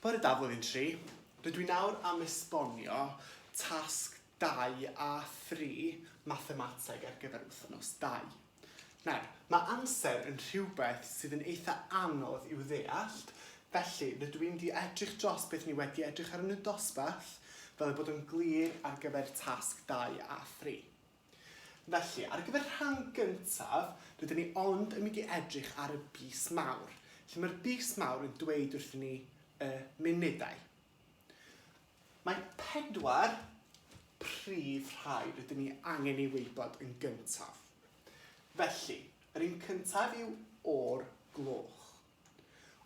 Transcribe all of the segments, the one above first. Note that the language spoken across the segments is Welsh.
Bore da Flwyddyn Tri. Rydw i nawr am esbonio tasg dau a thri Mathemateg ar gyfer wythnos dau. Nawr, mae amser yn rhywbeth sydd yn eitha anodd i'w ddeallt, felly rydw i'n di edrych dros beth ni wedi edrych arnyn nhw dosbarth fel ei bod yn glir ar gyfer tasg dau a thri. Felly, ar gyfer rhan gyntaf, rydyn ni ond yn mynd i edrych ar y bys mawr, lle mae'r bys mawr yn dweud wrthyn ni y munudau. Mae pedwar prif rhai rydyn ni angen ei wybod yn gyntaf. Felly, yr un cyntaf yw o'r gloch.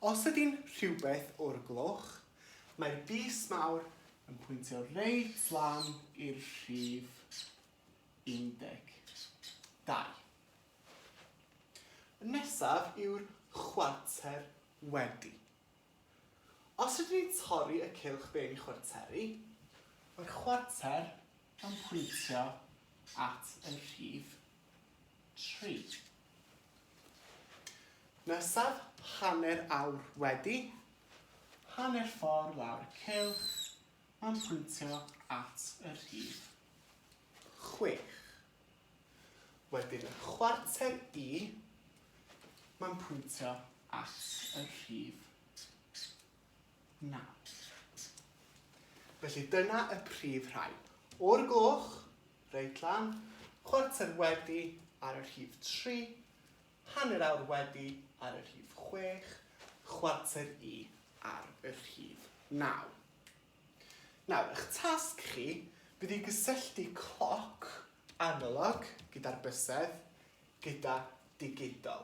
Os ydy'n rhywbeth o'r gloch, mae'r bys mawr yn pwyntio reit lan i'r rhif 12. Y nesaf yw'r chwarter wedi. Os rydyn ni'n torri y cylch ben chwarteri, mae'r chwarter Yn pwyntio at y rhif tri. Nesaf, hanner awr wedi, hanner ffordd lawr y cylch, mae'n pwyntio at y rhif chwech. Wedyn y chwarter i, mae'n pwyntio at y rhif Na. Reit. Felly dyna y prif rhai. O'r gloch, reit lan, chwarter wedi ar y rhif tri, hanner awr wedi ar y rhif chwech, chwarter i ar y rhif naw. Nawr, ych tasg chi fydd i gysylltu cloc analog gyda'r bysedd gyda digidol.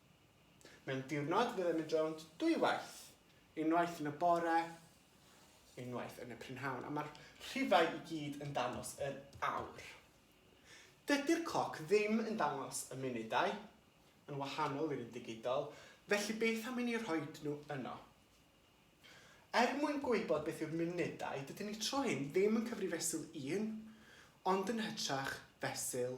Mewn diwrnod fyddem yn rownd dwy waith, unwaith yn y bore, unwaith yn y prynhawn, a mae'r rhifau i gyd yn dangos yr awr. Dydy'r cloc ddim yn dangos y munudau, yn wahanol i'r un digidol, felly beth am i ni rhoi nhw yno? Er mwyn gwybod beth yw'r munudau, dydyn ni tro hyn ddim yn cyfrif fesul 1, ond yn hytrach fesul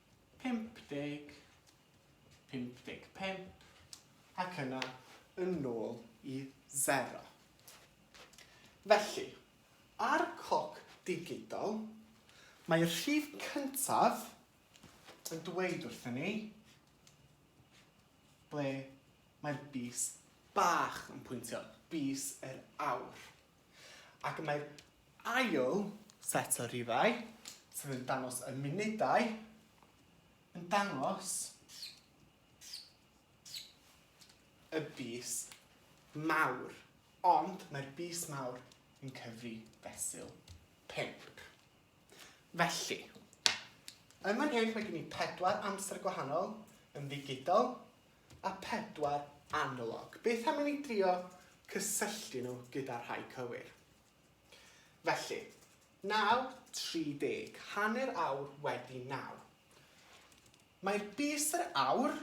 50, 55, ac yna yn nôl i sero. Felly, ar cloc digidol, mae'r rhif cyntaf yn dweud wrthyn ni ble mae'r bys bach yn pwyntio, bys yr awr. Ac mae'r ail set o rifau, sef yn dangos y munudau, yn dangos y bys mawr. Ond mae'r bys mawr yn cyfri fesul pink. Felly, yn fan hyn mae gen i pedwar amser gwahanol yn ddigidol, a phedwar analog. Beth am i ni drio cysylltu nhw gyda'r rhai cywir? Felly, 9.30, hanner awr wedi naw. Mae'r bys yr awr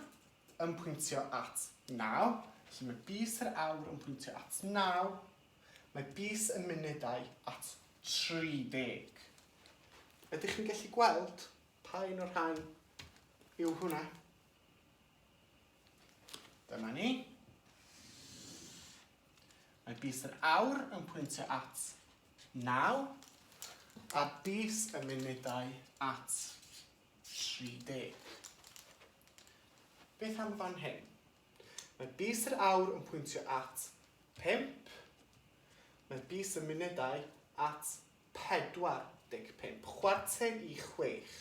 yn pwyntio at naw, felly mae bys yr awr yn pwyntio at naw, mae bys y munudau at 30. Ydych chi'n gallu gweld pa un o'r rhain yw hwnna? Dyma ni. Mae bus yr awr yn pwyntio at 9 a bus y munudau at 30. Beth am fan hyn? Mae bus yr awr yn pwyntio at 5. Mae bus y munudau at 45. Chwarter i 6.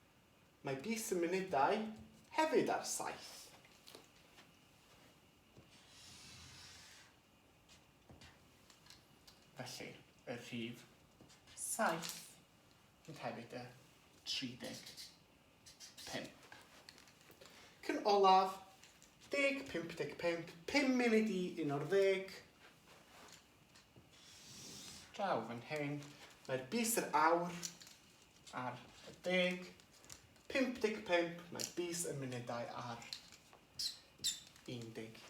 Mae bys y munudau hefyd ar saith. Felly, y rhif saith fydd hefyd y 35. Cyn olaf, deg, pump deg pump, pum munud i un o'r ddeg. Draw fan hyn, mae'r bys yr awr ar y deg, 55, mae'r bys y munudau ar 11.